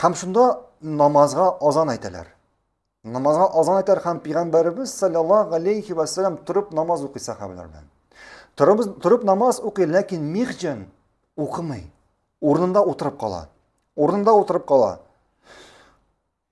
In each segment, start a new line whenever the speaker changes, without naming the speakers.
Хәм шунда намазга азан әйтәләр. Намазга азан әйтәр хәм пигамбәрбез саллаллаһу алейхи ва саллям торып намаз укый сахабалар белән. Торып торып намаз укый, ләкин михҗан укымый. Урынында утырып кала. Урынында утырып кала.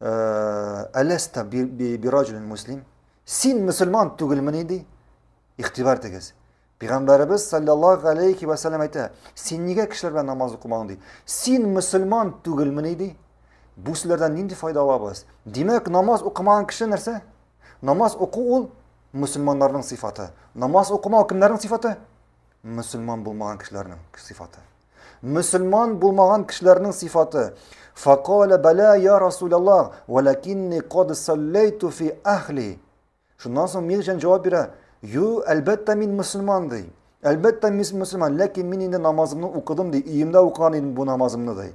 Әләстә бираҗулин муслим. Син мусульман түгелмени ди. Игътибар тегез. Пәйгамбәребез саллаллаһу алейхи ва саллям әйтә, син нигә кешеләр белән намаз укымаң ди. Син мусульман түгелмени ди. Бу сүзләрдән нинди файда алабыз? Димәк, намаз укымаган кеше нәрсә? Намаз уку ул мусульманнарның сыйфаты. Намаз укымау кемнәрнең сыйфаты? мөселман булмаган кешеләрнең сыйфаты. Мөселман булмаган кешеләрнең сыйфаты. Факаля бәлә я Расулаллах, валакинни кад саллайту фи ахли. Шуннан соң Мирҗан җавап бирә, "Ю, әлбәттә мин мөселман" ди. Әлбәттә мин мөселман, ләкин мин инде намазымны укыдым ди, өемдә укыган идем бу намазымны ди.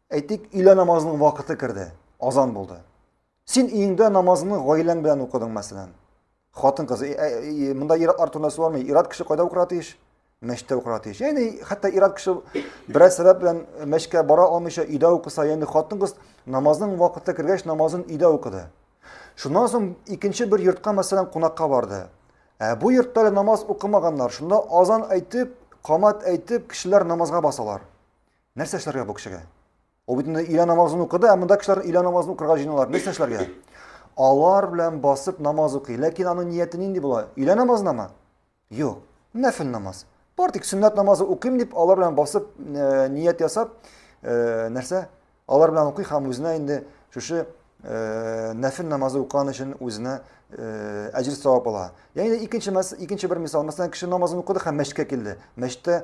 Әйтик, өйлә намазының вакыты керде, азан булды. Син өеңдә намазыңны гаиләң белән укыдың, мәсәлән. Хатын кызы, э, э, э, монда ир-ат артында суармый, ир-ат кеше кайда укырга тиеш? Мәчеттә укырга тиеш. Яни хәтта ир-ат кеше бераз сәбәп белән мәчкә бара алмыйча өйдә укыса, яни хатын кыз намазның вакыты кергәч намазын өйдә укыды. Шуннан соң икенче бер йортка мәсәлән кунакка барды. Ә бу йортта намаз укымаганнар. Шунда азан әйтеп, камат әйтеп, кешеләр намазга басалар. Нәрсә эшләргә бу кешегә? Ул бит инде өйлә намазын укыды, ә монда кешеләр өйлә намазын укырга җыеналар. Нәрсә эшләргә? Алар белән басып намаз укый. Ләкин аның нияте нинди була? Өйлә намазынамы? Юк. Нәфил намаз. Бар тик сөннәт намазы укыйм дип, алар белән басып э, ният ясап, э, нәрсә? Алар белән укый һәм үзенә инде шушы э, нәфил намазы укыган өчен үзенә э, әҗер савап ала. Ягъни икенче мәс, икенче бер мисал, мәсәлән, кеше намазын укыды һәм мәчеткә килде. Мәчеттә